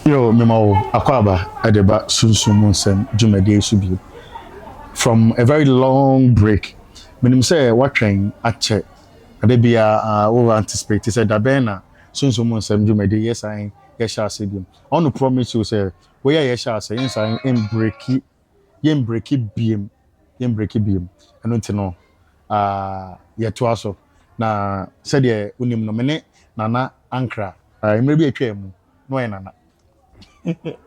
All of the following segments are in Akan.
yo mema wo akwaaba ɛde ba sunsum mu nsɛm dwumadie so bio from a very long break menim sɛ woatwɛn akyɛ ade biara uh, wo anticipate sɛ da bɛn na sunsum mu nsɛm dwumadie yɛsan yɛhyɛ ase bio I want to promise you sɛ woyɛ yɛhyɛ ase yɛnsan mbreki yɛnbreki biem, yɛnbreki biem. Ɛno nti no, uh, yɛtoa so. Na sɛdeɛ wonim no, me ne Nana Ankra, uh, mmerɛ bi atwa mu, na ɔyɛ Nana.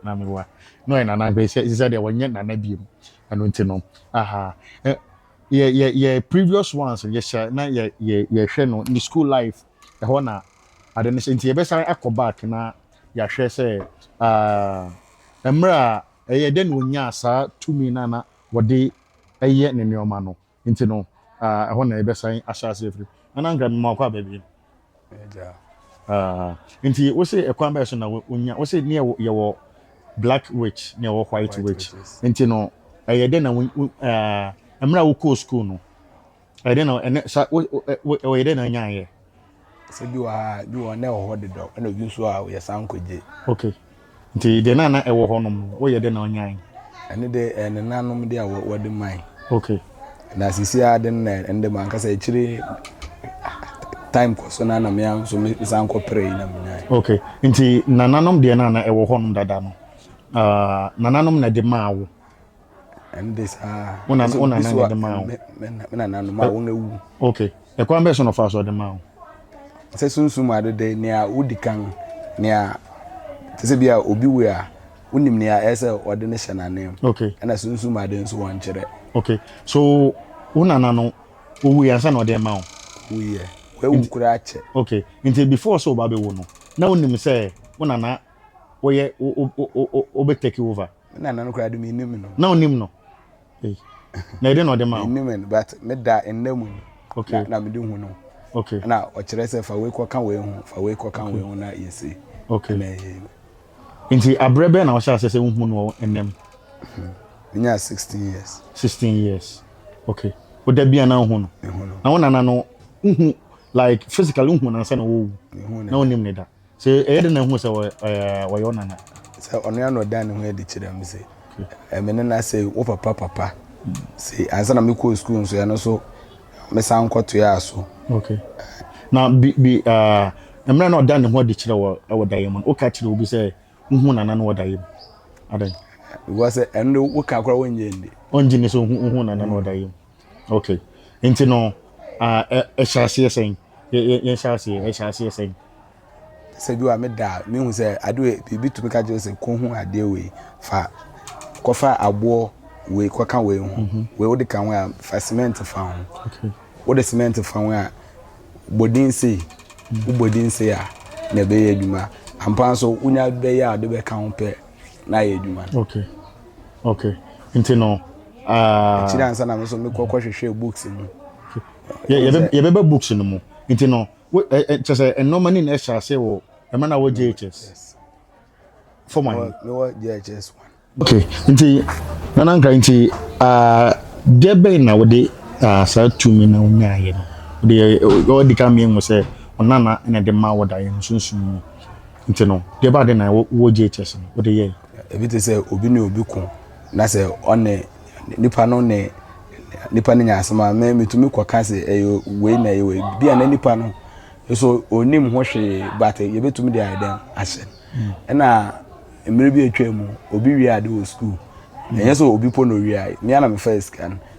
na mewa, na ɔyɛ Nana, ɛsɛ sɛ deɛ wɔnyɛ Nana biem. Ɛno nti no, aha, eh, yɛ, yɛ, yɛ previous ones, yɛhyɛ, na yɛ, yɛ, yɛhwɛ no, ne school life, ɛhɔ na ade no hyɛ. Nti yɛbɛsan akɔ back na yɛahwɛ sɛ, uh, mmerɛ a Ɛyɛɛ dɛn na onyaa saa tumi no a na wɔde yɛ ne nneɛma no? Enti no, ɛhɔ na yɛbɛsan ahyɛ ase afiri. Ɛnna anka mema wokɔ aba bio. Enti wose ɛkwan bɛn so na wonya, wose ne yɛwɔ black witch ne yɛwɔ white witch. Enti no, ɛyɛɛ dɛn na mmerɛ a wokɔɔ sukuu no, ɛyɛ dɛ na ɛnɛ sa wo wo ɛyɛ dɛ na anya ayɛ. sɛ bi wɔ ha bi wɔ na ɛwɔ hɔ dedɔ ɛna obi nso a yɛ san kɔgye. ok nti deɛ na na ɛwɔ hɔ nom no woyɛ dɛ na anya ayɛ. ɛne de ɛyɛ ne nanom de a wɔde man. ok na sisi a de na ɛne de ma ankasa akyire time kɔ so na na mea nso me san kɔ pere yi na menya. ok nti nananom deɛ na na ɛwɔ hɔ nom dada no uh, nananom na de maa wo. ɛnde saa wo nana wo nana na ɛde maa wo me nananom a wɔn awu okay ɛkwan bɛɛ so na ɔfa so ɔde maa wo sɛ sunsum ade de nea wodi kan nea te sɛ bi a obi wei a wonim nea ɛyɛ sɛ ɔde ne hyɛ n'anan mu okay ɛna sunsum ade nso wɔn kyerɛ okay so wo nana no owu yɛ ansa na ɔde ma wo owu yɛ wɔawu koraa kyɛ okay nti before sɛ ɔba bɛwu no na wonim sɛ wo nana wɔyɛ wobɛtake over Me nana no koraa de me nim no. Na onim no. Hey. Na ɛde na ɔde ma wo. Me nim no but me da nna mu. Okay. Na, na me de hu no. Okay. Na ɔkyerɛ sɛ fa wei kɔka wei ho, fa wei kɔka okay. wei ho na yɛsi. Okay. Na ɛyɛ. Nti abrɛ bɛn na ɔhyɛ asɛ sɛ wohu no ɛnam. Hmm. Menya 16 years. 16 years. Okay. Woda bi a na wohu no. Mehu no. Na wo nana no wohu like physically wohu no ansa na wɔwu. Mehu no. Na wonim ne da. Sɛ ɛyɛ dɛn na ehu sɛ wɔyɛ wo nana? Sɛ ɔno ara na ɔdaa ne ho adi kyerɛɛ me sɛ me nana sɛ wo papa papa sei. Ansa na mekɔɔ sukuu nso ɛno nso mesan kɔtoaa so. Ok. Na bi bi mmerɛ na ɔdaa ne ho adi kyerɛ wɔ wɔ daeɛ mu no woka kyerɛ obi sɛ wohu nana no wɔ daeɛ mu? Adɛn? Because ɛno de woka koraa wɔnnyɛ nni. Ɔngye nni sɛ wohu nana no wɔ daeɛ mu. Okay. Nti no, uh, ɛhyɛ aseɛ sɛn? Yɛhyɛ aseɛ, ɛhyɛ aseɛ sɛn? Sɛ bi wa me da a, mehu sɛ adeɛ biribi tumi ka kyerɛ sɛ kɔhu adeɛ wei fa kɔfa aboɔ wei kɔka wei ho mhm. wei wode ka ho a fa cement fa ho wode cement fa ho a bɔdin sei mhm. wobɔdin sei a na ɛbɛyɛ adwuma ampa nso wonya bɛyɛ a wode bɛka ho pɛ na ayɛ adwuma no okay okay nti no ah, akyiri ansa na me nso mekɔ kɔhwehwɛ books mu yɛbɛba books no mu nti no kyɛ sɛ ɛnɔma ne na ɛhyɛ ase wɔ ɛma na wɔ jhs fɔm ahe mewɔ jhs okay nti nana nkra nti ah, deɛ bɛn na wode ah, saa tumi na wonyaayɛ no wode ɔdi ka mmienu sɛ ɔnana na ɛde ma wɔ da yɛn sunsum mu Nti no, deɛ ɛbaa dɛn na wɔ wɔ JHS no wode yɛɛ? Ebi te sɛ obi ne obi ko na sɛ ɔne nipa no ne nipa no nya asɛm a me metumi kɔka sɛ ɛyɛ wei na ɛyɛ wei bi a na nipa no nso onim ho hwee but yɛbɛtumi de ayɛ dɛn ahyɛ hmm. ɛna mmerɛ bi atwa mu obi wie ade wɔ sukuu ɛnyɛ sɛ obi po na owia me ana mefa sika no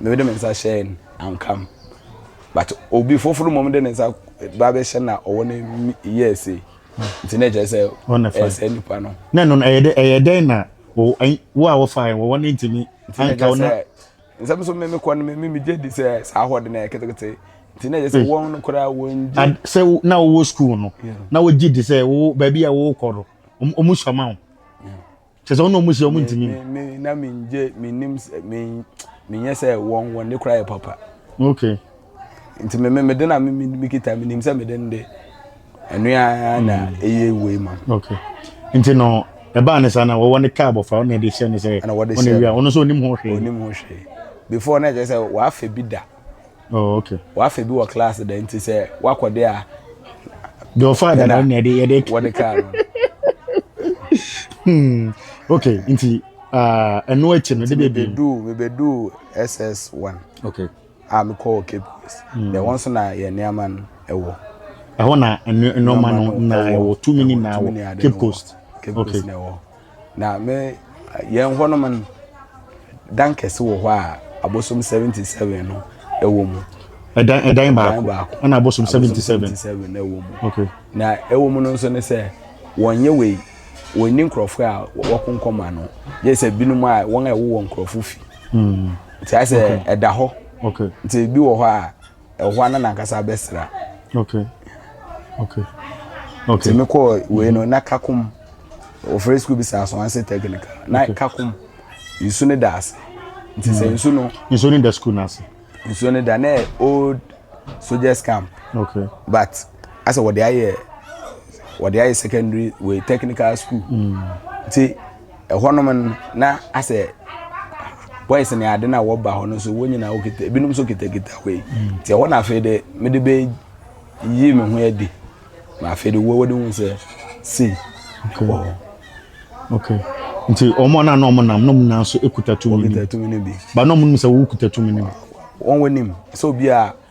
Mede me nsa hyɛɛ no, anka me. But obi foforo mmom de ne nsa ba bɛhyɛ na ɔwɔ no yɛɛ sei. Nti na ɛkyerɛ sɛ ɛsɛ nipa no. Na ɛno ɛyɛ dɛ ɛyɛ dɛn na wo a wɔfa yɛn wɔwɔ ne ntumi anka wo na. Nsɛm so mmemme kɔ no mmemme megye di sɛ saa hɔ de na ɛyɛ ketekete. Nti na ɛyɛ sɛ wɔn no koraa wɔn gye. Sɛ na wɔwɔ sukuu no na wɔgye di sɛ wo baabi a wɔwɔ kɔ no wɔn sua ma wo. kyerɛ sɛ ɔno ɔmo hyia ɔmo ntumi. me me na me ngye me nim me me nyɛ sɛ wɔn wɔn de kora yɛ papa. okay. nti me me me de na me me me kita me nim sɛ me de nde ɛnua na mm. eye wei ma. okay nti no ɛbaa ne saa na wɔwɔ ne kaa bɔfra ɔna ɛde hyɛ ne sɛ ɔna wia ɔno nso onim ho hwee. onim ho hwee before na ɛkyɛ sɛ w'afɛ bi da. Oh, okay. Wafe bi wɔ class da nti sɛ wakɔ de a. De ɔfa da na yɛde yɛde. Wɔde kaa no. Hmm. Okay, nti ah, ɛno akyi no de bɛ bi. Mebedu mebedu SS one. Okay. A mekɔ wɔ Cape Coast. Hmm. Deɛ wɔn nso na yɛ nneɛma no ɛwɔ. Ɛhɔ na nneɛma no na ɛwɔ tumi ni na ɛwɔ Cape Coast. Cape Coast na ɛwɔ. Na me yɛn hɔ nom no dan kɛse wɔ hɔ a abosom seventy seven no ɛwɔ mu. ɛdan ɛdan baako baako ɛna abosom seventy seven ɛwɔ mu. okay na ɛwɔ mu no nso ne sɛ wɔn yɛ wei wɔn ni nkurɔfoɔ a wɔko nkɔma no yɛ sɛ binom a wɔn a ɛwɔ wɔn nkurɔfoɔ fi. Hmm. nti ayɛ sɛ ɛda hɔ. okay nti ebi wɔ hɔ a. ɛhɔ na nankasa abɛsra okay okay okay tèmi kɔ wei no na kakom ofurɛ sukuu bi sɛ asoanse technical na kakom nsu ne da ase nti sɛ mm. nsu no nsu ne da sukuu no ase nsu ne da na old soldiers camp okay but asɛ wɔde ayɛ wɔde ayɛ secondary wei technical school mm. nti. Mm. ɛhɔnom no na asɛ boys ne ade na wɔba hɔ no nso wɔn nyinaa wɔkita ebinom nso kitakita wei mm. nti ɛhɔ na afei de mede bɛ yi me ho adi na afei de wɔwɔ de hu sɛ sei wɔ hɔ. okay nti wɔn a na na wɔn nam na wɔn nan so kuta tumi no bi ba na wɔn nim sɛ wɔkuta tumi no bi. wɔn wɔ nim sɛ obi a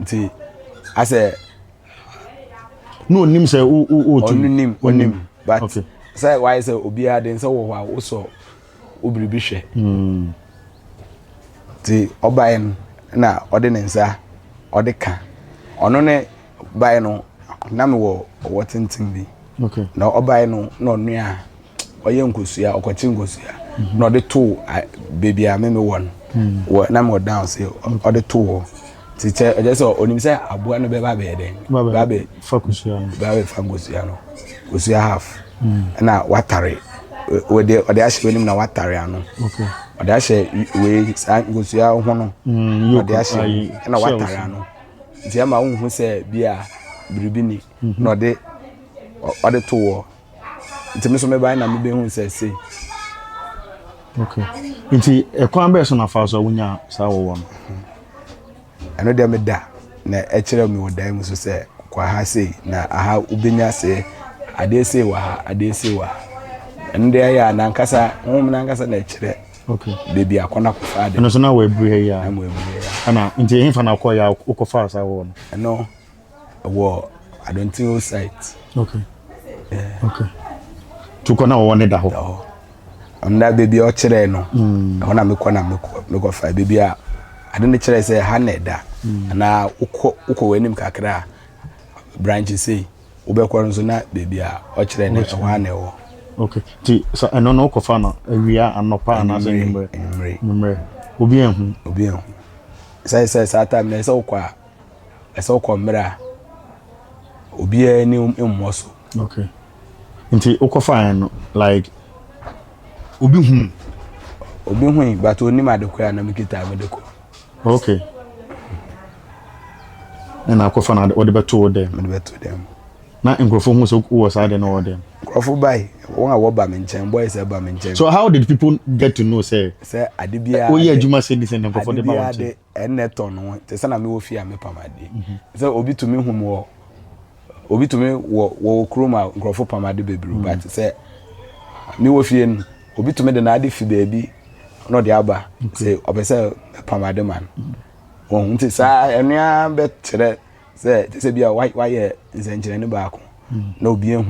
nti asɛ na onim sɛ o o o tu onim onim but okay. sɛ wayɛ sɛ obiara de nsɛ wɔ hɔ a wosɔ obiribi hwɛ hmm. nti ɔbaeɛ no na ɔde ne nsa ɔde ka ɔno ne baeɛ no na mewɔ ɔwɔ tenten bi okay. na ɔbaeɛ no na ɔnoa ɔyɛ nkosua ɔkɔkye nkosua na ɔde to beebi a meme wɔ no hmm. wɔ na mewɔ down se ɔde to hɔ te kyɛ ɛkyɛ sɛ ɔnim sɛ aboa no bɛba bɛyɛ dɛn ba bɛ fa nkosua no ba bɛ fa nkosua no nkosua half hmm. ɛna watare ɔde ɔde ahyɛ w'anim na watare ano ɔde ahyɛ wei saa nkosua ho no hmm, ɔde ahyɛ ɛna watare ano nti ɛma wohu sɛ bia biribi ni na ɔde ɔde to wɔ nti me nso mebae na mebɛhu sɛ sei okay nti ɛkwan bɛɛ so na fa so a wonya saa wɔwɔ no ɛno deɛ meda na ɛkyerɛ me wɔ dan mu so sɛ kɔ aha sei na aha wobɛnya see adeɛ sei wɔ ha adeɛ sei wɔ ha ɛno deɛ ɛyɛ a nankasa honhom nankasa na ɛkyerɛ baabi akɔ no akɔfa ade ɛno so na wɔabiri ha yi a ɛna nti ɛhefa na wokɔyɛ a wokɔfa saa wɔwɔ no ɛno Ɛwɔ Adontin o site. Okay. Yeah. Okay. Tukɔ na wɔwɔ ne da hɔ. Da hɔ. Ɔnda beebi a ɔkyerɛɛ no. Mm. Ɛhɔ na mekɔ na mekɔ mekɔ fa beebi a ade no kyerɛ sɛ ha na ɛda. Mm. Anaa wokɔ wokɔ wɔ anim kakra a branch sei wobɛkɔ nso na beebi a ɔkyerɛ no ɛhɔ ana ɛwɔ. Okay. Ti sa ɛno no wokɔfa no awia anɔpa anaasɛ nwummerɛ. Nwummerɛ. Obi anhu. Obi anhu. Sɛ sɛ saa time na ɛsɛ wokɔ a ɛsɛ sɛ wokɔ mmerɛ a obiara ani mmɔ so. Okay. Nti wokɔfaeɛ no like obi hui? Obi hui but onim ade koraa na mekita mede kɔ. Okay. Ɛna akɔfa no wɔde bɛto wo dɛm? Mede bɛto dɛm. Na nkurɔfoɔ hu sɛ wowɔ saa de no wɔ dɛm? Nkurɔfoɔ bae, wɔn a wɔba me nkyɛn, boys ɛba me nkyɛn. So how did people get to know sɛ woyɛ adwuma sɛ di sɛ nkurɔfoɔ de ba wo nkyɛn? Ɛnnɛ tɔ no te sɛ na mewɔ fie a mepam ade. Sɛ obi tumi hu me wɔ obi tumi wɔ wɔ kurom a nkurɔfo pam ade bebree ba te sɛ mewɔ fie no obi tumi de n'ade fi baabi na ɔde aba sɛ ɔpɛ sɛ pam ade ma no. Wɔn nti saa ɛno ara bɛkyerɛ sɛ te sɛ bi a wayɛ nsɛnkyerɛnne baako na obi ehu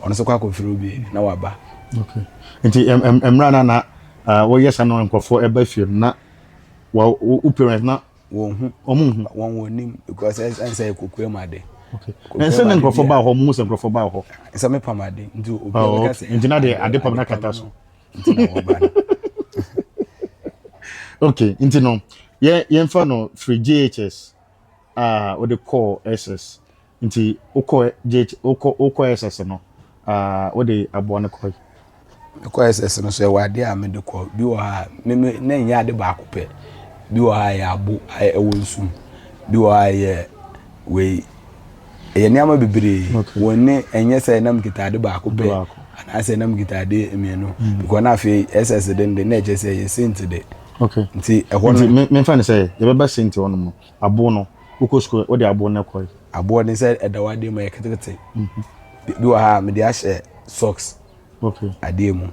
ɔno nso kɔ akɔfiri obi na waba. Okay. Nti mmerɛ na na wɔyɛ saa na nkurɔfoɔ ɛba fie no na wa wo wo parents na wɔn hu wɔn nhu wɔn wɔn nim because ɛsɛ ɛsɛ yɛ kokoa mu ade okay na ɛsɛ na nkurɔfoɔ baa hɔ wɔn mu sɛ nkurɔfoɔ baa hɔ ɛsɛ me pam ade nti obi a oh ɔbɛka okay sɛ nti na deɛ ade ade pam na ade pam kata so no nti na wɔba no okay nti no yɛ yɛmfa no firi jhs a wɔde kɔɔ ss Nti wokɔ JH wokɔ wokɔ SS no uh, wode aboa no kɔe? Mekɔ SS no so ɛwɔ adeɛ a mede kɔ bi wɔ ha me me na ɛnyɛ ade baako pɛ bi wɔ ha yɛ abo ɛwɔ nsu mu bi wɔ ha yɛ wei ɛyɛ nneɛma bebree okay. wɔn ne ɛnyɛ sɛ ɛnam kita ade baako pɛ anaasɛ ɛnam kita ade mmienu mm. because na afei SS de no de na ɛkyɛ sɛ ɛyɛ senti de okay. nti ɛhɔ no nti memfa no sɛ yɛbɛba senti hɔ no mu Abow no, wokɔ sukuu no, wode abow no kɔe? Abow de sɛ ɛda w'adeɛ mu a, ɛyɛ ketekete. Bi wɔ ha a, mede ahyɛ socks adeɛ mu.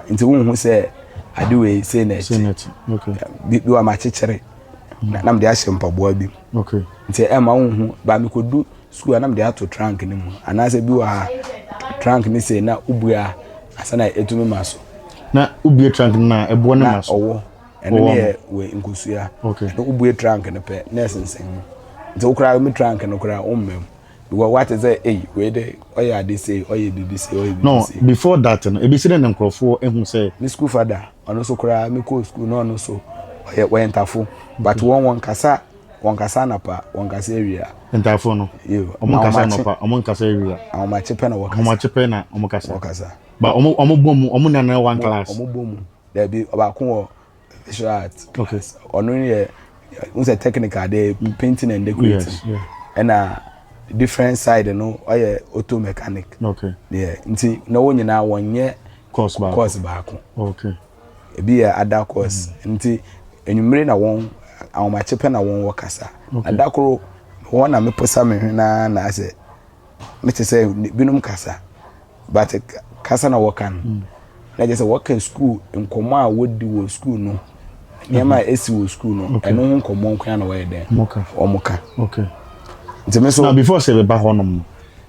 Nti wonhu sɛ ade wei sei na ɛte. Bi wɔ ha makyekyere na mede ahyɛ mpaboa bi mu. Nti ɛmma wonhu. Ba mekɔdu sukuu a na mede ato trunk no mu. Anaasɛ bi wɔ ha trunk no sei na wobue a, ansa na ɛtumi ma so. Na wobue trunk no a, ɛboɔ no ma so? Na ɔwɔ. ɛno ne yɛ wɔ nkosua na wobue trunk no pɛ na ɛsensɛn mu nti wo koraa me trunk no koraa wommam because wate sɛ ei wei de ɔyɛ ade sei ɔyɛ biribi sei ɔyɛ biribi sei no before that no ebi si dɛ ne nkurɔfoɔ ehu sɛ me school fada ɔno nso koraa me kɔɔ school na ɔno nso ɔyɛ wɔyɛ ntafo but wɔn wɔn kasa wɔn kasa anapa wɔn kasa awia ntafo no wɔn kasa anapa wɔn kasa awia ahomakye pɛ na wɔkasa ahomakye pɛ na wɔn kasa wɔkasa ba wɔn wɔn bɔ mu wɔn nana one class wɔn bɔ mu. Dabi, ɔbaako wɔ visual art class. Ɔno yɛ n sɛ technical de painting and decorating. Ɛna different side no ɔyɛ auto mechanic. Deɛ nti na wɔn nyinaa wɔnyɛ course baako. Ebi yɛ ada course mm. nti enyimire na wɔn ahomakye pɛ na wɔn wɔ kasa. Ada koro wɔn na meposa me hwɛ naa na asɛ. ne te sɛ binom kasa but kasa na wɔka no mm. na kyerɛ sɛ wɔka school nkɔmmɔ a wɔdi wɔ school no nneɛma a ɛsi wɔ school no ɛno ho nkɔmmɔ nkoa na wɔyɛ dɛn wɔn ka nti me so na before sɛ bɛba hɔ nom no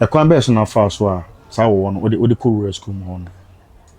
ɛkwan bɛyɛ so na fa so a saa wɔwɔ no wode kɔ rural school mu hɔ no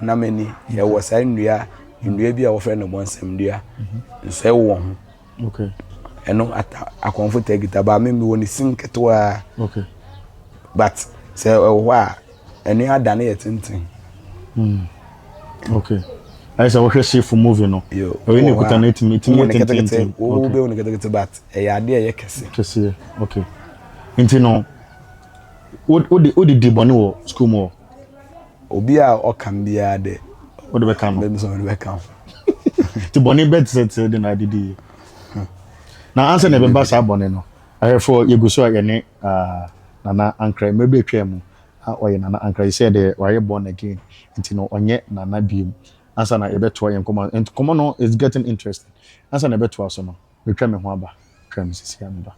honam ani ɛwɔ saa nnua nnua bi a wɔfrɛ no bɔnsɛm nnua nsɔe wɔ wɔn ho ɛno ata akɔnfo tɛ kita baa mi mi wɔ ne sim ketewa but sɛ ɛwɔ hɔ a ɛno ada ne yɛ tenten. Hmm. okay ayɛ sɛ wohwɛ sefo movie no ɛyɛ ne kuta no ɛtumi ɛtumi yɛ tententen wo bɛhu no ketekete but ɛyɛ adeɛ a ɛyɛ kɛse kɛseɛ okay nti no wode wode di bɔne wɔ sukuu mu hɔ Obi a ɔka me biara dɛ. Wode bɛka no. Bɛmi sɛ wode bɛka ho. Nti bɔne bɛtetew de na adidi yi. Na ansa na ɛbɛba saa bɔne no, ahwɛfo yɛgu so a yɛne uh, Nana Ankra mmerɛ bi atwaa mu. Ha ɔyɛ Nana Ankra, yi sɛ deɛ wayɛ born again, nti no ɔnyɛ Nana biom. Ansa na yɛbɛtoa yɛn nkɔmmɔ, nkɔmmɔ no is getting interesting. Ansa na yɛbɛtoa so no, metwa me ho aba, twaa me sisi a meba.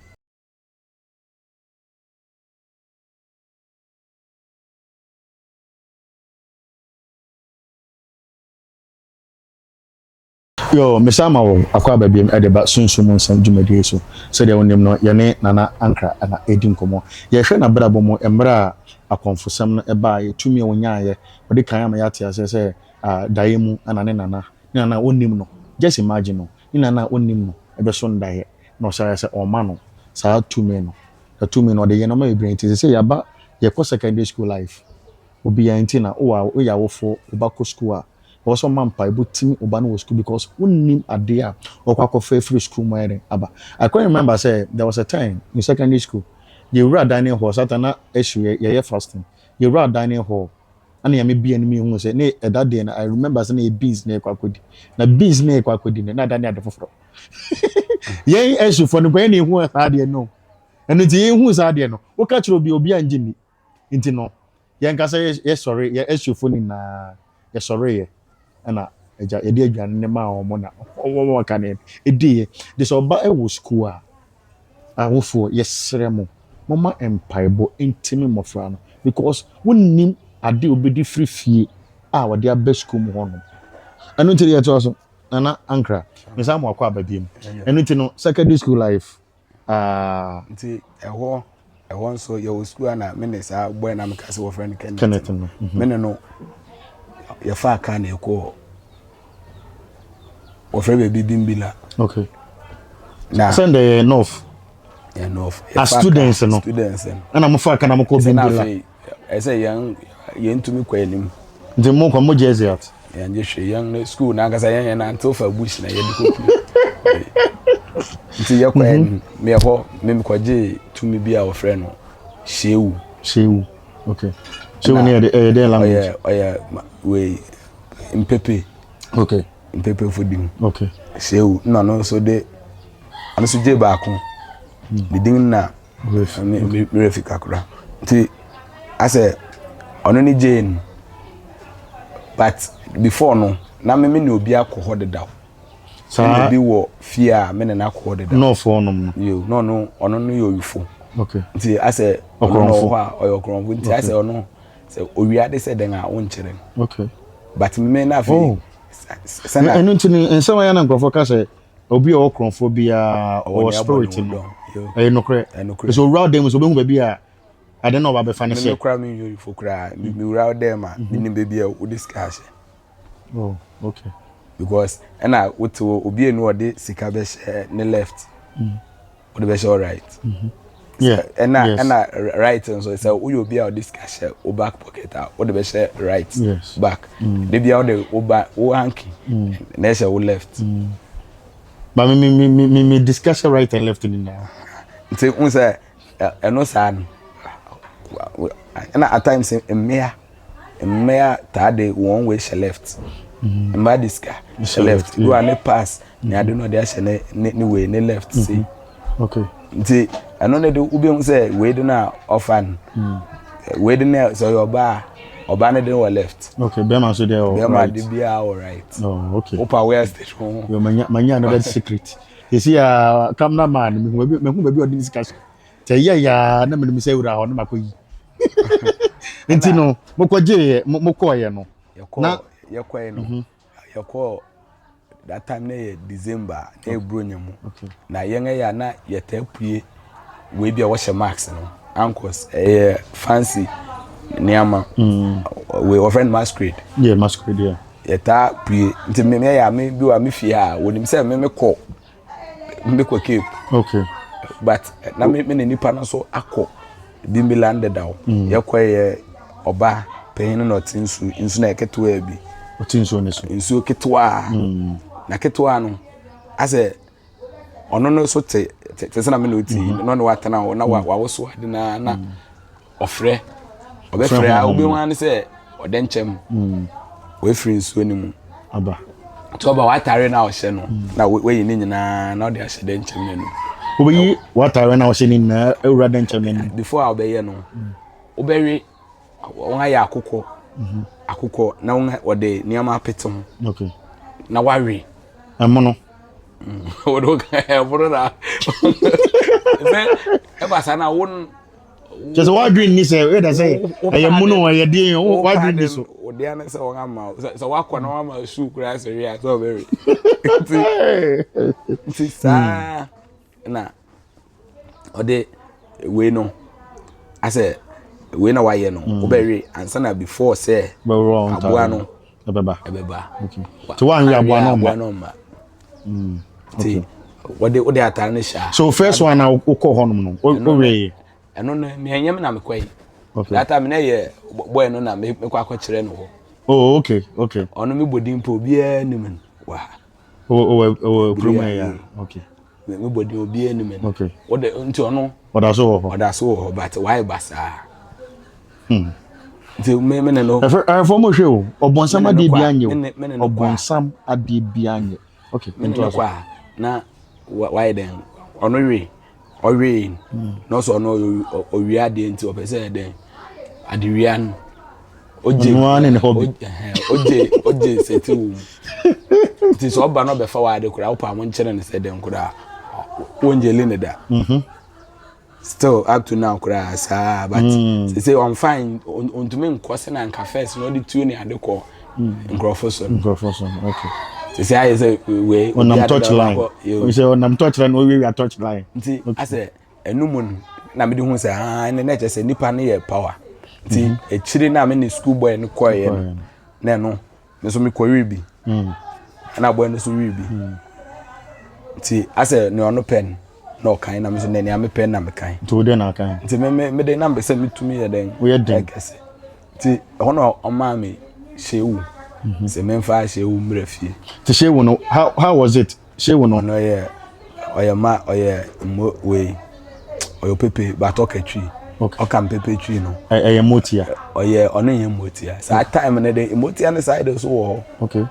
yo mesan ma wɔ akɔ aba biom ɛde ba sunsum mu nsɛm dwumadie so sɛdeɛ wonim no yɛne nana ankra na ɛdi nkɔmmɔ yɛhwɛ n'abrabɔ mu mmerɛ a akɔmfosɛm no ɛbaeɛ tumi a ɔnyaeɛ ɔde kan ama yɛate aseɛ sɛ uh, daeɛ mu ana ne nana ne nana a ɔnnim no just imagine no ne nana a ɔnnim no ɛbɛso ndaeɛ na ɔhyɛ ayɛ sɛ ɔma no saa tumi no. Na tumi no ɔde yɛ nnoɔma bebree nti sɛ sɛ yɛaba yɛkɔ secondary school life obiaa nti na wowɔ a woyɛ awofoɔ wo ba kɔ school a ɛwɔ sɛ ɔma mpaebɔ timi wo ba no wɔ school because wonnim adeɛ a ɔkɔ akɔfa afiri school mu ayɛ dɛn aba. I quite remember sɛ there was a time in secondary school yɛwura dining hall saa time na ɛhye yɛ yɛyɛ fasting yɛwura dining hall ɛna Nyame bue anim yɛhuu sɛ ne ɛda deɛ no I remember sɛ na ɛyɛ beans na yɛkɔ akɔdi na beans na yɛkɔ akɔdi no na ɛda no yɛ ade foforɔ. yɛn ɛhyefo no yɛn na ehu saa adeɛ no ɛno nti yɛn hu saa adeɛ no woka kyerɛ obi obi angye ni nti no yɛn kasa yɛ sɔre yɛn ɛhyefo nyinaa yɛ sɔre yɛ ɛna ɛgya yɛde aduane ne maa wɔn na wɔn wɔn ka ne ɛdi yɛ de sɛ ɔba ɛwɔ sukuu a awofoɔ yɛsrɛ mo mo ma mpaebɔ ntumi mmɔfra no because wonnim ade obedi firi fie a wɔde abɛ sukuu mu hɔ no ɛno nti yɛtoa so. Nana Ankra, mesan mu akɔ aba biom. Ɛno nti no, secondary school life, ah. Nti ɛhɔ, ɛhɔ nso yɛwɔ school a na me ne saa boy na meka sɛ wɔfrɛ no Kenneth. Kenneth no. Mhm. Me ne no yɛfaa kaa na ɛkɔɔ wɔfrɛ baabi Bimbila. Okay. Na sɛ ndɛ yɛ north. Yɛ north. As students no. Students no. Ɛna mo fa kaa na mo kɔ Bimbila. ɛsɛ yɛn yɛn tumi kɔ anim. nti mo kɔ mo jersey at. yɛn gye hwɛ yɛn ne school n'ankasa yɛn yɛn nantew fa bush na yɛde kɔ pie nti yɛkɔ mhm. anim meɛ hɔ memekɔgye tumi bi a wɔfrɛ no shewu. shewu okay shewu ne yɛde ɛyɛ dɛ language. ɔyɛ ɔyɛ wei mpepe. okay mpepe fo di mu. okay shewu na ɔno nso de ɔno nso gye baako. ne hmm. din na Ruth ne obi werɛ fi kakra nti asɛ ɔno ne Jane but before no na me me ne obi akɔ hɔ dedaw saa obi wɔ fie a me ne no akɔ hɔ dedaw nɔɔfo ɔnom no yo no no ɔno no yɛ oyufo okay nti asɛ ɔno no hɔ a ɔyɛ ɔkorɔmfo nti asɛ ɔno sɛ owia de sɛ dɛn a wonkyerɛ no okay but me na afei oh. sɛna ɛno nti ne nsɛm ayɛ na nkurɔfoɔ ka sɛ Obi a ɔwɔ korɔmfoɔ biara ɔwɔ nea abɔ ne spirit ho no. dɔm. Yo, Ɛyɛ nokorɛ. ɛyɛ nokorɛ. Sɛ owura ɔdan mu sɛ ɔbɛhu baabi a ade na ɔba bɛfa no Me hyɛ. me kora me nyɛ oyifo koraa. Me me wura ɔdan mu a, menim baabi a wode sika ahyɛ. Oh, okay. Because ɛna wote hɔ obi enu ɔde sika bɛhyɛ ne left. wode bɛhyɛ wo right ɛna ɛna right nso sɛ woyɛ obi a ɔde sika hyɛ wo back pocket a wode bɛhyɛ right back mm. da bia wode wo ba wo hanky mm. na ɛhyɛ wo left mm. ma me me me me me discuss right and left nyinaa nti n sɛ ɛno saa no ɛna at times mmea mmea taa de wɔn wei hyɛ left mmaa de sika hyɛ left do a ne pass ne ade no ɔde ahyɛ ne ne ne wei ne left se nti ɛno ne de wobi ho sɛ wei de no a ɔfa no wei de no a sɛ ɔyɛ ɔbaa a ɔbaa no de wɔ left okay bɛrima nso deɛ wɔ right bɛrima de biara wɔ right oh okay wopa where stage ho yɛ manya manya no bɛ secret yɛsi ya camera man mehu baabi ɔde ne sika so tɛ yɛ ya na menim sɛ wura hɔ na makɔ yi nti no mokɔgyeeɛ mokɔɔeɛ no na yɛkɔe no mhm. yɛkɔɔ that time na yɛ december na ɛburo nya mu na yɛn ɛyɛ a na yɛtaa pue wei bi a wɔhyɛ mask no ankɔs ɛyɛ fancy nneɛma mm. wei wɔfrɛ no masquerade yɛ masquerade yɛ yɛtaa pue nti mmea yɛ a me bi wa me fie a wɔnim sɛ me me kɔ mekɔ cape okay. but eh, na me ne nipa no so akɔ bimbiland dedaw mm. yɛkɔyɛ ɔba panyin no na ɔte nsu nsu na ɛketewaa bi ɔte nsuo no so nsuo ketewaa mm. na ketewaa no asɛ ɔno no so te te sɛ na me na ɔti mm-hmm. na ɔne watena hɔ na wawoso ade na na ɔfrɛ ɔbɛfrɛ a wobɛhu ara ne sɛ ɔdɛ nkyɛm wɔafiri hmm. nsuo no mu aba nti ɔba w'atare no a ɔhyɛ no hmm. na wayi ne nyinaa na ɔde ahyɛ dɛ nkyɛm no anum wobɛyi w'atare no a ɔhyɛ no nyinaa awura dɛ nkyɛm no anum before a wobɛyɛ no hmm. wobɛwe wɔn ayɛ akokɔ mhm. akokɔ na wɔde nneɛma apete ho na wawe ɛmono ɛmono na ɛba saa na wo kyɛ sɛ wadwene nni sɛ ɛyɛ dɛ sɛ ɛyɛ mono ɛyɛ deɛ wadwene nni so ɔde ano sɛ wɔn ama sɛ wakɔ na wama sukuu koraa sɛ wia sɛ ɔbɛwe nti nti saa hmm. na ɔde wei no asɛ wei na wayɛ no hmm. wobɛwe ansa na before sɛ aboa no ɛbɛba ɛbɛba nti wɔn yɛ aboa no mma nti wɔde wɔde ataare no hyɛ so first one na wokɔ hɔnom no wɔwɛ yɛ ɛno no mìɛ nyɛm na mekɔ yi that time na yɛ bɔyɛ no na mekɔ akɔkyerɛ no hɔ oh okay okay ɔno mi bɔ din po obiara nim wɔ ha. ɔwɔ kurom ha yi a okay me bɔ din obiara anim ɛno okay ɔde nti ɔno ɔda so wɔ hɔ ɔda so wɔ hɔ but wayɛ basaa hmm nti me me ne no ɛfɛ ɛfɔ mo hwɛ o ɔbɔnsam adeɛ bi anyɛ o ɔbɔnsam adeɛ bi anyɛ okay nti ɔso na wayɛ dɛn ɔno we ɔwee na ɔsɛ ɔno ɔwia adeɛ nti ɔpɛ sɛ ɛdɛ adewia no ogye ogye ogye sɛti wɔ mu nti sɛ ɔba na ɔbɛfa wɔ ade koraa ɔpa mo nkyɛn ne sɛ dɛm koraa wɔngye li ne da mhm. still up to now koraa saa but sɛ sɛ ɔnfa ntumi nkɔ sɛ na nka fɛs na ɔde tuo ne ade kɔɔ. nkurɔfo so nkurɔfo so ok sisi ayɛ sɛ wei ɔnam touch line sɛ ɔnam touch line ɔwiawia touch line nti asɛ ɛnu mu no na mi de hu sɛ aa ɛnna ɛna ɛkyɛ sɛ nipa no yɛ power nti mhm. akyire na mi ne school boy no kɔɛ yɛ no na ɛno nso mi kɔ wi bi mhm. ɛna boy no so wi bi mhm. nti asɛ nea ɔno pɛ no na ɔkan na mi so nea nea mi pɛ na mi kan nti o de na kan nti mi mi mi de na mi sɛ mi tumi yɛ dɛ o yɛ dɛ ɛkɛse. nti ɛhɔ na ɔmaa me shewu mhm. sɛ memfa shewu mmerɛ fie nti shewu no how, how was it shewu no ɔno yɛ ɔyɛ ma ɔyɛ mmo wei ɔyɛ pepe but ɔka twi ɔka mpepe twi no ɛyɛ mmotia ɔyɛ ɔno yɛ mmotia saa time no de mmotia no saa de so wɔ hɔ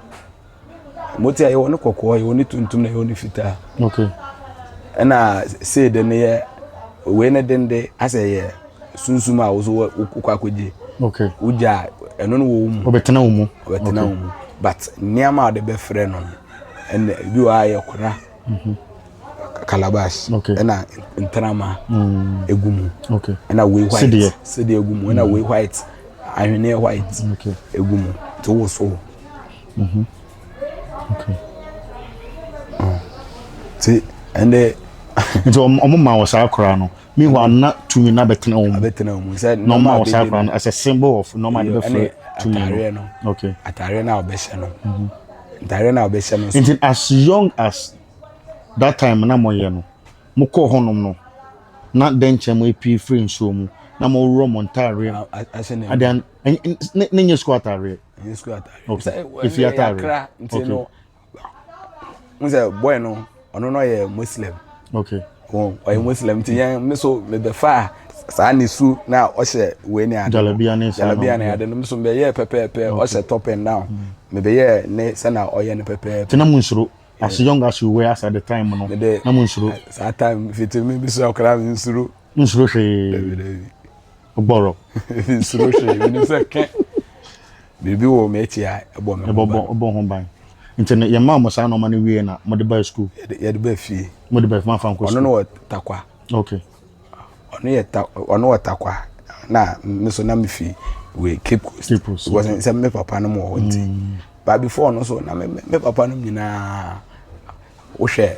mo ti a yɛwɔ ne kɔkɔɔ yɛwɔ ne tuntum na yɛwɔ ne fitaa okay ɛna sei de ne yɛ wei ne den de asɛ yɛ sunsum a woso wɔ wokɔ akɔgye okay wogya ɛno no wɔ wo mu ɔbɛtena wo mu ɔbɛtena wo mu but nneɛma a wɔde bɛfrɛ no ɛna bi wɔ a yɛ kora mhm. calabash okay ɛna ntrama mm. egu mu okay ɛna wei white sedeɛ sedeɛ egu mu ɛna mm. wei white ahweneɛ white egu mu to woso. nti ɛnde nti ɔmo ma wɔ saa koraa no mihu ana tumi na bɛtena wɔn bɛtena wɔn sɛ na ɔmo ma wɔ saa koraa no as a symbol of nɔɔma de bɛfrɛ tumi no okay ataareɛ na ɔbɛhyɛ no mhm. ataareɛ na ɔbɛhyɛ no nti as young as that time na mo yɛ no mo kɔ hɔnom no na dɛnkyɛn mo epi firi nsuo mu na mo wura mo ntaareɛ adeɛ ne nyɛ sukuu ataareɛ. ɛnyɛ sukuu ataare oh, sɛ ɛfie ataare akra nti no n sɛ boy no ɔno no ɔyɛ muslim okay oh, ɔyɛ muslim nti yɛn me so mebɛfa a saa ne su na ɔhyɛ wei ne ade jalabia ne saa jalabia ne ade no nso mebɛyɛ pɛpɛɛpɛ ɔhyɛ top and down mm. mebɛyɛ ne sɛna ɔyɛ no pɛpɛɛpɛ tena mu nsoro as young as you were as at the time no na mu nsoro saa time fitimi bi so akora nsoro nsoro hwee Bɔrɔ. Nsuro hwee. Menim sɛ kɛ biribi wɔ m'akyi a ɛbɔ me ho ban. Ɛbɔ ho ban. Nti no yɛmaa mo saa nɔɔma no wie na mode baa sukuu? Yɛde baa fie. Mode baa fie mamfa nkɔ sukuu? Ɔno no wɔ takwa. Okay. Ɔno yɛ ta ɔno wɔ takwa na me so na me fi wɔ Cape Coast. Cape Coast. Because sɛ me papa no mu wɔ hɔ nti. Mm. But before no so na me me papa no nyinaa wohwɛ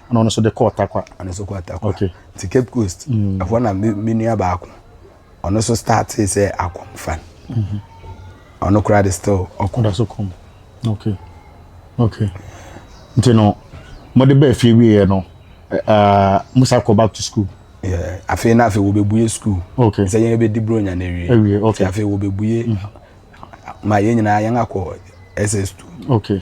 ɛna ɔno nso de kɔ ɔtakwa ɔno nso kɔ ɔtakwa okay ti cape coast mm. ɛhɔ mm. na me nua baako ɔno nso startee sɛ akɔm fan mm-hmm. ɔno koraa de still ɔkɔm ɔda so kɔm okay okay nti no mɔde bɛɛ fie wieɛ no uh, musa kɔ back to school afei na afei wɔbɛbue school okay sɛ yɛn bɛdi buro nya no awie awie okay afei wɔbɛbue mm-hmm. ma yɛn nyinaa yɛn akɔ ss2 okay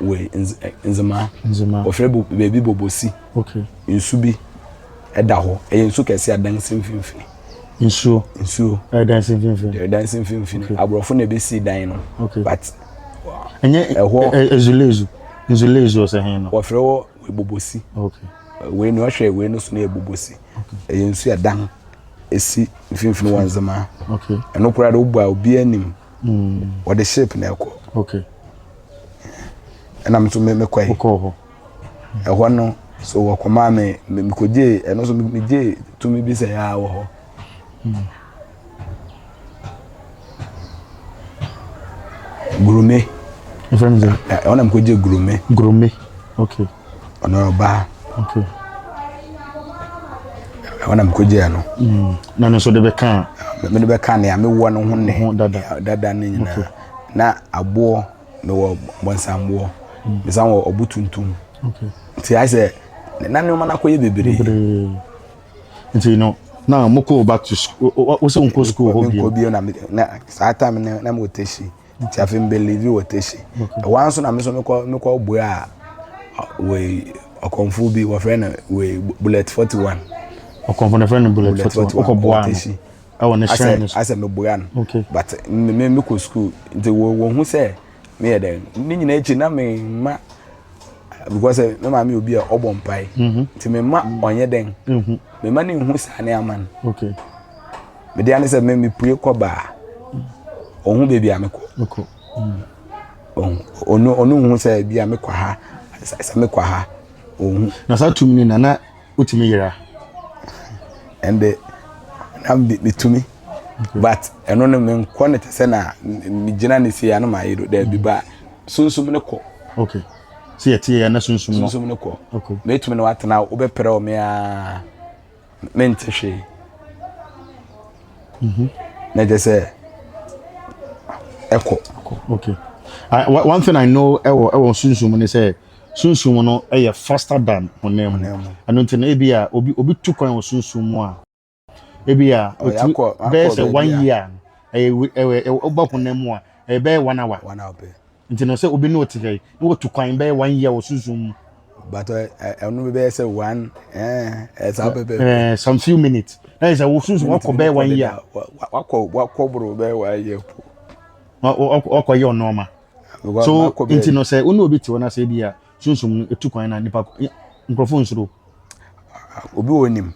wɔ nzema wɔfrɛ baabi bɔbɔsi nsu bi ɛda hɔ ɛyɛ nsu kɛse adan si mfimfini nsuo nsuo ɛdan si mfimfini ɛdan si mfimfini aborɔfo na ebi si dan no but ɛnyɛ ɛhɔ ezulezu nzulezu ɔsɛ hɛn no wɔfrɛ wɔ bɔbɔsi wei ni ɔhwɛ wei no so no yɛ bɔbɔsi ɛyɛ nsu ɛdan esi mfimfini wɔ nzema ɛno koraa de wobɔ a obi anim wɔde mm. ship na ɛkɔ okay ɛna nso me mekɔ yi wokɔ hɔ ɛhɔ no so wɔkɔmaa me mekɔgyee ɛno nso megyee tumi bi sɛ yɛa wɔ hɔ mm. gurume ɛfrɛ me sɛ ɛhɔ na mekɔgye gurume gurume okay ɔno ɔbaa ɛhɔ na mekɔgyaa no mm. na no nso de bɛka mede bɛka nea mewɔ no ho ne dada no nyinaa na aboɔ mewɔ bɔnsamboɔ mm. mesan wɔ ɔbo tuntum nti ayɛ sɛ na nneɛma no akɔyɛ bebree nti no na mokɔ back to school wosɛ wonkɔ school hɔ bio na saa time na mewɔ tɛhyi nti afei mbelieve wɔ teshi ɛwa nso na me nso mekɔ mekɔ bue a wei ɔkɔmfo bi wɔfrɛ no wei bullet forty one ɔkɔmfo no frɛ no bullet forty one ɔkɔ bua no ɛwɔ ne hyɛn no so asɛ mebua no but me me mekɔ sukuu nti wɔ wɔn ho sɛ meyɛ dɛ ne nyinaa akyi na me ma because eh, me maame obi a ɔbɔ mpae mhm. nti me ma ɔnyɛ dɛn mhm. me ma ne nhu saa ne ama no. mede ane sɛ me mepue kɔ baa ɔhu baabi a mekɔ ɔno ɔno hu sɛ bi a mekɔ ha sɛ mekɔ ha ɔhu na saa tumi no nana wotumi yera ɛnde na metumi but ɛno no menkɔ no te sɛ na megyina ne sie ano mayɛ do daabi mm. ba sunsum no kɔ okay sɛ yɛteɛ yɛ na sunsum no sunsum no kɔ mɛtumi no watena wobɛprɛ wo me aa mente hwee mhm. na kyɛ sɛ ɛkɔ okay I, one thing i know ɛwɔ ɛwɔ sunsun mu ne sɛ sunsun mu no ɛyɛ faster than honam mu ɛno nti no ebi a obi obi tu kwan wɔ sunsun mu a ebi a oh, otu bɛyɛ sɛ one year ɛyɛ ɛwɔ ɛwɔ ɔba honam mu a ɛbɛyɛ one hour one hour pɛ Nti no sɛ obi ne ɔte ha yi na watu kwan bɛyɛ one year wɔ sunsum mu. But ɛno bi bɛyɛ sɛ one ɛɛ saa pɛpɛ. Ɛɛ some few minutes. Na yɛ sɛ wo sunsum wakɔ bɛyɛ one year. Wakɔ wakɔ boro bɛyɛ one year po. Wakɔ yɛ ɔnɔɔma. So nti no sɛ wo ne obi te hɔ na sɛ bi a sunsum no etu kwan na nipa nkurɔfo nsoro. Obi wɔ nim.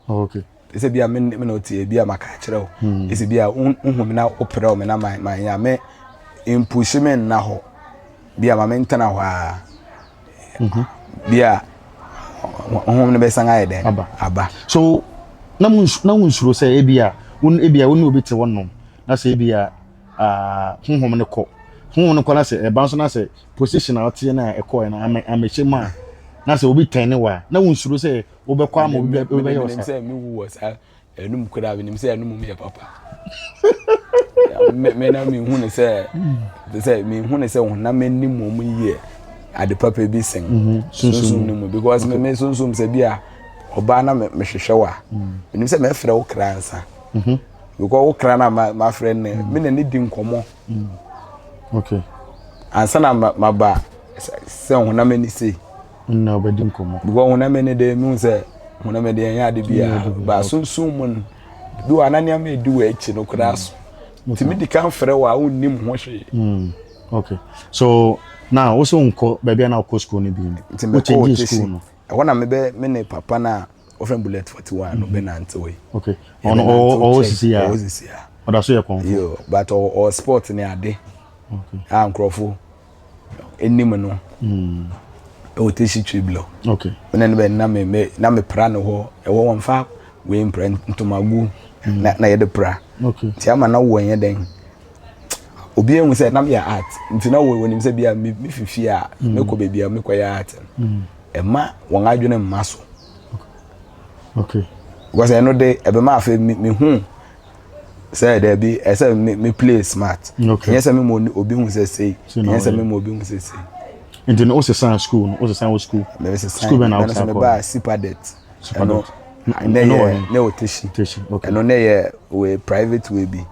Oh, okay. Sɛ bia me na ɔte bia maka akyerɛ wo. Hmm. Sɛ bia wohu me na woprɛ wo me na manyɛ me mpuhye me nna hɔ. Bia ma me ntena hɔ a. Mhm. Bia honhom no bɛsan ayɛ dɛn? Aba. Aba. So na mo na wo nsuro sɛ ebia wo ebia wo ne obi te hɔ nom na sɛ ebia ah honhom no kɔ. Honhom no kɔ na sɛ ɛban so na sɛ position a ɔte na ɛkɔɛ na amɛhyɛ mu a na sɛ obi tɛn ne wa na wo nsuro sɛ wobɛkɔ ama obi bɛyɛ ɔsa. menim sɛ mewu wɔ saa ɛnum koraa menim sɛ ɛnum mu yɛ papa me na mehu ne sɛ te sɛ mehu ne sɛ honam m'anim mu mu yie ade papa bi sen mhm. sunsum no mu because me me sunsum sɛ bi a ɔbaa na mehwehwɛ wa mhm. menim sɛ mɛfrɛ wo kra nsa mhm. because wo kra na mafrɛ ne me na ne di nkɔmmɔ Mm. Okay. Ansa na maba sɛ honam ani sei. Na ɔbɛdi nkɔmmɔ. Because honam ani de mu sɛ honam ani ɛnyɛ ade bi a ba sunsun mu no bi wɔ ana nneɛma edi wɔ akyi no koraa so. Mm. Tumi di kan frɛ wɔ a wonnim ho hwee. Mm. Okay. So na wosɛ wonkɔ baabi a na wokɔ school no bi no. Nti mekɔ wɔ tesi. Ɛhɔ na mebɛ me ne papa no a wɔfrɛ no Bullet 41 no bɛnantewee. Okay. Ɔno ɔwɔ ɔwɔ sisi a. Ɔwɔ sisi a. Ɔda so yɛ kɔnfo. Yo, but ɔwɔ sport ne ade. Okay. A nkurɔfo anim no. Mm. Ɛwɔ tesi triblo. Okay. Mena ne bɛ na me me na me pra no hɔ. Ɛwɔ wɔn fa wei mpra ntomagu mm. na na yɛde pra. Okay. Ti ama na wɔn yɛ dɛn. obiara hu sɛ na meyɛ art nti na wɔnim sɛ bia mefi fie a mm. mekɔ baabi a mekɔyɛ art no mm. ɛma wɔn adwene mma so because ɛno de ɛbɛma afei mehu sɛ daabi ɛsɛ me me play smart ɛnyɛ sɛ me ma obi hu sɛ sei ɛnyɛ sɛ me ma obi hu sɛ sei nti no wosesan school no wosesan wɔ school school bɛn na wosan kɔ mebaa sipadet ɛno ɛno yɛ ne wɔ teshi ɛno ne yɛ wɔ private way bi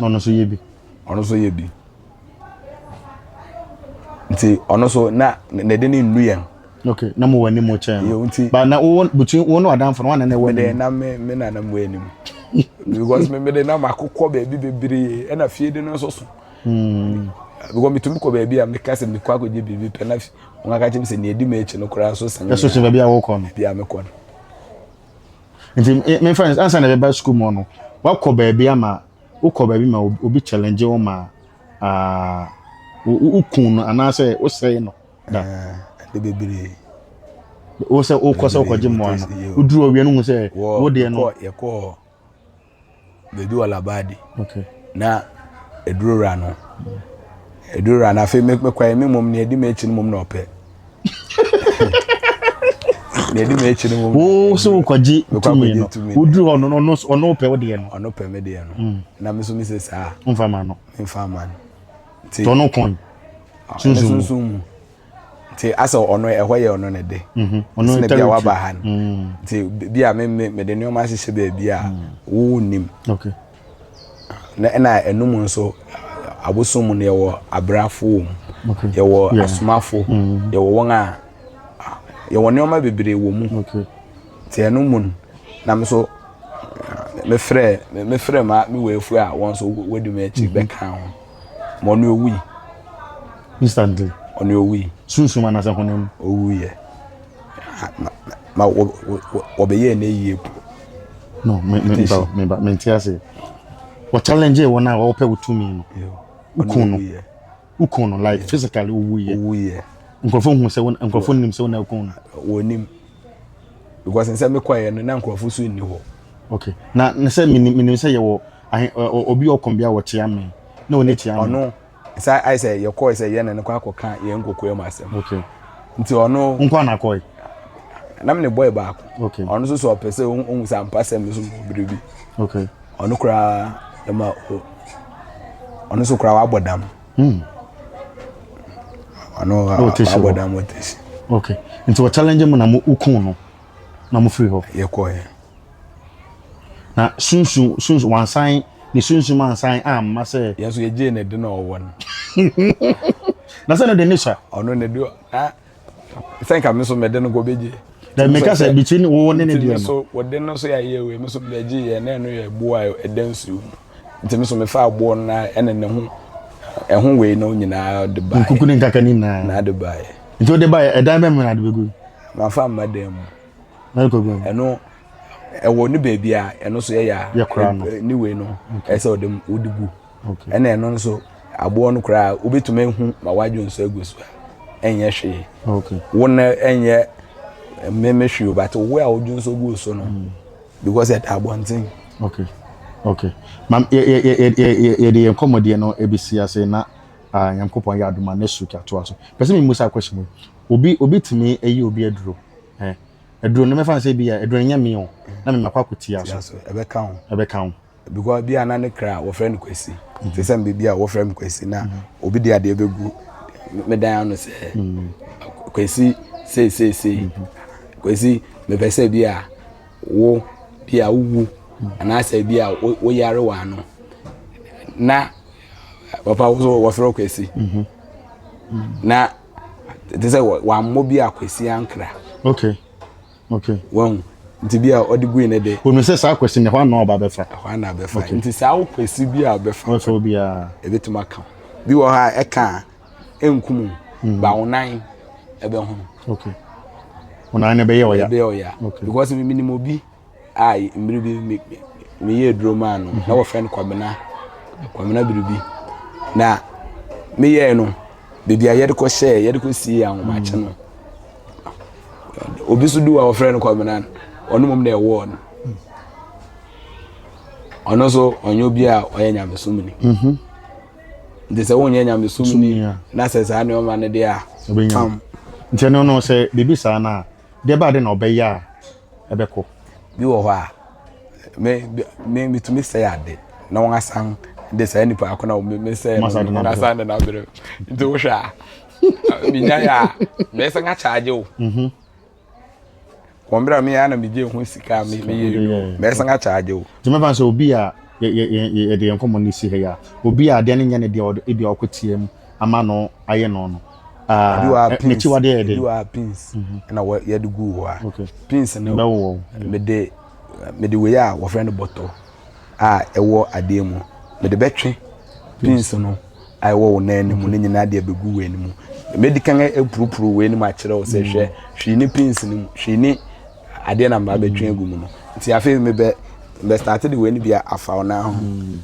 na ɔno nso yɛ bi. ɔno nso yɛ bi nti ɔno nso na ne de ne nnu yɛn. ok na mo wɔ anim mo kyɛn no nti ba na wo between wo ne ɔdanfo no wɔn na na ɛwɔ anim. mede na me me na na mo anim because me mede na makokɔ baabi bebree ɛna fie de no nso so. Hmm. because metumi kɔ baabi a meka sɛ mekɔ akɔgye biribi pɛ na wɔn aka kyerɛ me sɛ nea edi m'akyi no koraa so sɛn. ɛso sɛ baabi a wɔkɔ no. baabi a mekɔ no. nti eh, me friends ansa na ɛbɛba sukuu mu no wakɔ baabi ama wokɔ baabi ma obi challenge wo ma ah, wo- wo- wokun no anaasɛ wosɛe no da ɛde bebree wo sɛ wokɔ sɛ wokɔgye mmoa no woduru ɔwia no hu sɛ wɔ wodeɛ no yɛkɔɔ yɛkɔɔ baabi wɔ Labadi. Okay. Na ɛduru wura no. Ɛduru wura no afei mekɔɛ me mmom nea ɛdi m'akyi no mmom na ɔpɛ. Nea ɛdi m'akyi no mmom. Wo so wokɔgye tumi no. Woduru hɔ no ɔno ɔno pɛ wo deɛ no. Ɔno pɛ me deɛ no. Mm. Na me so me sɛ saa. Mfa ma no. Mfa ma no. Ti. Tɔno kɔn. Ah, Sunsun mu. nti asɛ ɔno ɛhɔ yɛ ɔno ne de ɛsɛ na bi a waba ha no nti bi a mede nneɛma ahyehyɛ baabi a wowo nim na ɛna ɛnum nso abosom mu no yɛwɔ abrafo wɔ mu yɛwɔ asomafo yɛwɔ wɔn a yɛwɔ nneɛma bebree wɔ mu nti ɛno mu no na me so mefrɛ mefrɛ ma me wɔ afu a wɔn nso wɔdi me akyi bɛka ho ma ɔno owui. instantly. ɔno owui. sunsun anasɛ honam. owu yɛ ma wɔ wɔ wɔbɛyɛ ne yie po. no me me mba me mba me nti ase wɔ challenge yɛ wɔn a wɔpɛ wɔ tumi no ukun no ukun no like physically owu yɛ owu yɛ nkurɔfo hu sɛ wɔn nkurɔfo nim sɛ wɔn na ukun no. wɔnim. because nsɛ mi kɔɛ no na nkurɔfo so nni hɔ. okay na ne sɛ mi mi nim sɛ yɛ wɔ ahe ɔ obi ɔkɔn bi a wɔte ame na ɔne te ame. ɔno nsa ayɛ sɛ yɛ kɔɛ sɛ yɛ na ne kɔ akɔ ka yɛn nkokoa mu asɛm. okay nti ɔno. nkɔ na kɔɛ. na mi ne bɔɛ baako. okay ɔno nso sɛ ɔpɛ sɛ ohun sɛ ampa sɛ mi nso mo biribi. okay ɔno koraa ɛma o ɔno nso koraa wabɔ dam. Hmm. Ano ha. Wo tesi wɔ. Abɔdan mo tesi. Okay. Nti wɔ challenge mu na mo ukun no na mo firi hɔ. Yɛ kɔ yɛ. Na sunsun sunsun wansan ne sunsun mansan a mma sɛ. Yɛn so yɛ gye ne de na ɔwɔ no. Na sɛ no de ne sua. Ɔno ne de na. sɛ nka me nso mede no kɔbɛgye na meka sɛ between wo ne ne deɛ no so wɔde no so yɛayɛ wei me so mebɛgye yɛ na ɛno yɛ boɔ a ɛda nsuo mu nti me so mefaa boɔ no na ɛne ne ho ɛho wei no nyinaa de baeɛ nkuku ne nkaka ne nyinaa na de baeɛ nti wode baeɛ ɛdan bɛmu na de bɛgu mafa mma dan mu ɛno ɛwɔ ne baabi a ɛno so yɛyɛ a ne wei no ɛsɛ ɔde wode gu ɛna ɛno nso aboɔ no koraa wobɛtumi ahu ma wadwo nso agu so a ɛnyɛ hwee wo na ɛnyɛ mmemme hwee o but wo a wodwo nso gu so no mm. because ɛda abɔnten okay okay mam yɛde yɛn kɔmmɔdeɛ no ɛbɛsi ase na ah, nyankopɔn yɛ adoma na su katoa so pɛ sɛ memu saa question mu obi obi tumi ayi obi aduro aduro no mɛfa no sɛ bi a aduro no nyɛ me o na memakɔ akɔtia so ɛbɛka ho ɛbɛka ho because bi a na ne kra wɔfrɛ no kwasi mhm. te sɛ mbebi a wɔfrɛ me kwasi na mhm. obi de adeɛ bɛgu me dan ano sɛ mhm. kwasi seeseesei kwasi mepɛ sɛ bi a wo bi a wowu anaasɛ bi a woyare wɔ ano na papa wo so wɔfrɛ kwasi na te sɛ wammɔ bi a kwasi ankra okay Okay. Wahu. Nti bi a ɔde gui ne de. Wɔn sɛ saa kwasi ne hɔ anaa ɔba bɛfa. Ɛhɔ anaa bɛfa. Okay. Nti saa kwasi bi a ɔbɛfa. Ɔbɛfa obiara. Ebetumi aka. Bi wɔ hɔ a ɛka nkumu. Mm. Ba onan ɛbɛhono. Okay. Onan no ɛbɛyɛ ɔya. Ɛbɛyɛ ɔya. Okay. Because mi nim obi a mmiri bi mi mi yɛ aduro maa no mhm. na wɔfrɛ no kwamina kwamina biribi na meyɛɛ no beebi a yɛde kɔ hyɛɛ yɛde kɔ sie ahomakye no. Mm. obi nso du a wɔfrɛ no kɔmenan ɔno mmom na ɛwɔɔ no ɔno nso ɔnyɛ obi a ɔyɛ nyamesomni mhm. nti sɛ wonyɛ nyamesomni na sɛ saa nneɛma no deɛ a pam nti ɛno no sɛ biribi saa no a deɛ baade na ɔbɛyɛ a ɛbɛkɔ bi wɔ hɔ a metumi sɛ ade na wɔn asan de saa nipa akɔnɔ wɔn mesɛ wɔn asan de n'abere nti wohwɛ a menya yɛ a mɛsan akyagye wo mhm. wɔ mmerɛ a meyɛ na megye ho sika a meyɛ no mɛsan akyagye wo nti mɛfa sɛ obi a yɛde yɛn nkɔmmɔ no si ha yi a obi a adeɛ no nyɛ ne deɛ ebi a ɔkɔteɛ mu ama no ayɛ no no mekyi wade yɛ de pins mhm. na yɛde gu hɔ a pins no mede mede wei a wɔfrɛ no bɔtɔ a ɛwɔ adeɛ mu. Mede bɛtwe pins no a ɛwɔ wo nan no mu no nyinaa de abɛgu wei no mu. Mɛdi kan apurupuru wei no mu akyerɛ wo sɛ hwɛ mm. hwii ne pins no mu hwii ne adeɛ na mmaa bɛtwe agu mu no nti afei mebɛ mebɛstate de wei no bi afa wo nan ho mm.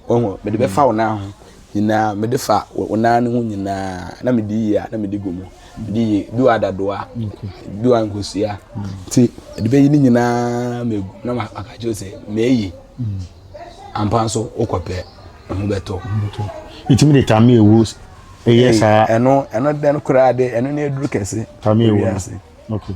Wahu? Mede bɛfa wo nan ho nyinaa, mede fa wo nan no ho nyinaa, na mede yie a, na mede gu mu, mede yie, bi wa dadoa, bi wa nkosua, nti mede bɛyi ne nyinaa megu, na maka kyerɛ sɛ, meyi, ampa nso wokɔpɛ, ɛho bɛtɔ. Ɛtumi de tame ɛwuo ɛyɛ saa? Ɛno, ɛno dɛn koraa de, ɛno ne aduru kɛse. Tame ɛwuo no, okay.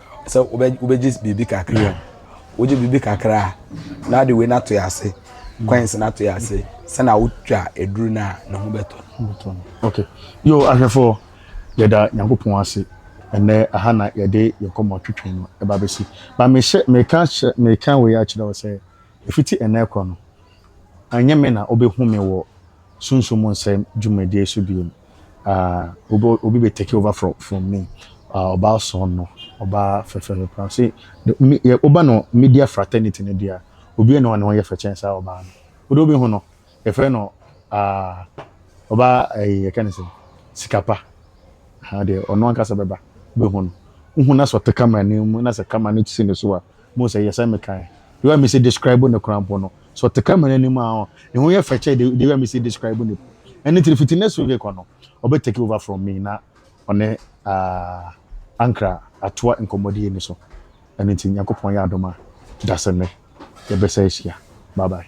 Sɛ wobɛgye biribi kakra o, wogye biribi kakra a, na wode wei no ato yɛ ase, coins no ato yɛ ase, sɛnea wotwa aduru no a, ne ho bɛtɔ no. Okay. Yo, ahwɛfoɔ, yɛda Nyankopɔn ase. Ɛnɛ, aha na yɛde yɛn kɔmmɔ twetwe no ɛba bɛsi. Ba mehyɛ, meka hyɛ, meka wei akyerɛ wo sɛ, ɛfiti ɛnɛ kɔ no, ɛnyɛ me na wobɛhu me wɔ Sunsum mu nsɛm dwumadie so bio no, ahh obi obi bɛ take over from from me, ahh ɔbaa ɔsɔn no, ɔbaa fɛfɛ no paa, se me wo ba no media fraternity no deɛ a, obiara nni hɔ a ne ho yɛ fɛ kyɛn saa ɔbaa no, wo deɛ wo bɛ hu no, yɛfrɛ no ahh ɔbaa ɛyi yɛka no sɛn, sika pa, ahh deɛ ɔno ankasa bɛba, wo bɛ hu no, wo hu no asɛ ɔte camera no anim na sɛ camera no si ne so a, Muhu sɛ yɛ sɛ mekae. The way a mesi describe no koraa mpo no, sɛ ɔte camera anim a, ɔn, ne ho yɛ fɛ kyɛn the, the way a mesi describe no mpo. Ɛno nti no, fiti next week rekɔ no, ɔbɛ take over from me na ɔne, ah, Ankra atoa nkɔmmɔdie no so. Ɛno nti, Nyankopɔn yɛ adom a, da sɛ nnɛ yɛbɛsa ahyia. Bye bye.